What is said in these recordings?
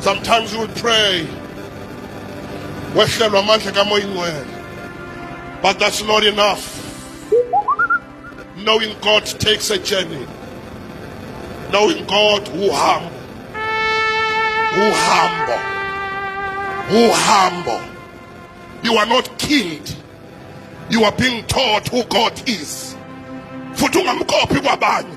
Sometimes you pray wehlelwa amandla kamoya ingcwele but that's not enough knowing God takes a journey knowing God uhambo uhambo uhambo you are not killed you are being taught who God is futhi ungamkophi kwabanye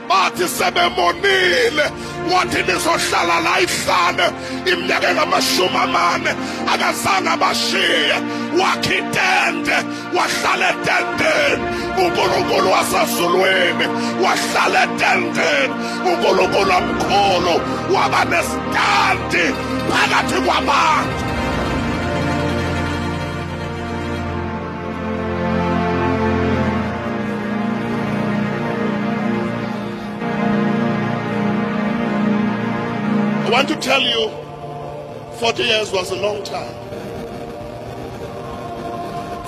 bathi sebemonile wathi nizohlala la ihlane iminyaka engamashumi amane akazange abashiye wakhe itende wahlala etendeni unkulunkulu wasezulwini wahlala etendeni unkulunkulu omkhulu waba nesitandi phakathi kwabantu I want to tell you 40 years was a long time.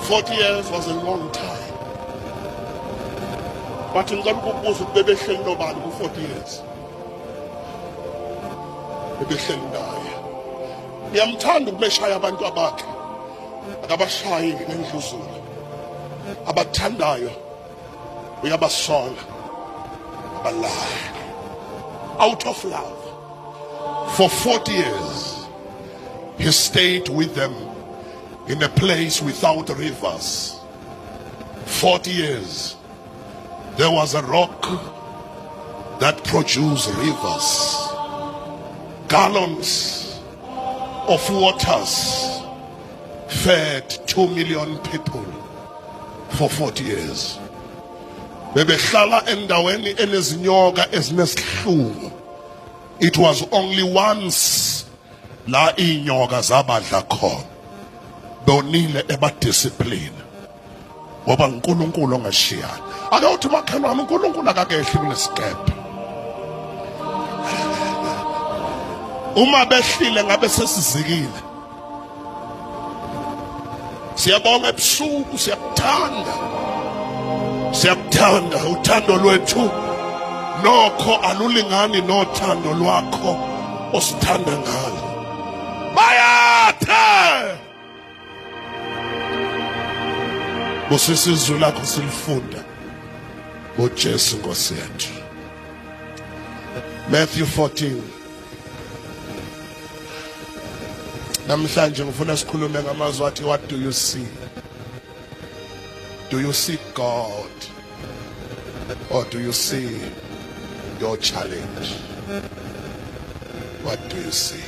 40 years was a long time. But in ngicela ukubuza ukuthi bebehleli nobani ku-40 years bebehleli naye uyamthanda ukumeshaya abantu abakhe akabashayi ngendluzula abathandayo uyabasola abalaya out of love for 40 years he stayed with them in a place without rivers 40 years There was a rock that produced rivers, gallons of waters fed 2 million people for 40 years. Bebehlala endaweni enezinyoka ezinesihlungu. It was only once la inyoka zabadla khona. Donile ebadiscipline. ngoba nguNkulunkulu ongashiyani ake uthi makhelwane uNkulunkulu akakehli kunesikebhe uma behlile ngabe sesizikile siyabonga ebusuku siyakuthanda siyakuthanda uthando lwethu nokho alulingani nothando lwakho osithanda ngalo bayathe busisa izwi lakho silifunda ngojesu nkosi yethu matthew 14 namhlanje ngifuna sikhulume ngamazwi athi what do you see do you see god or do you see your challenge what do you see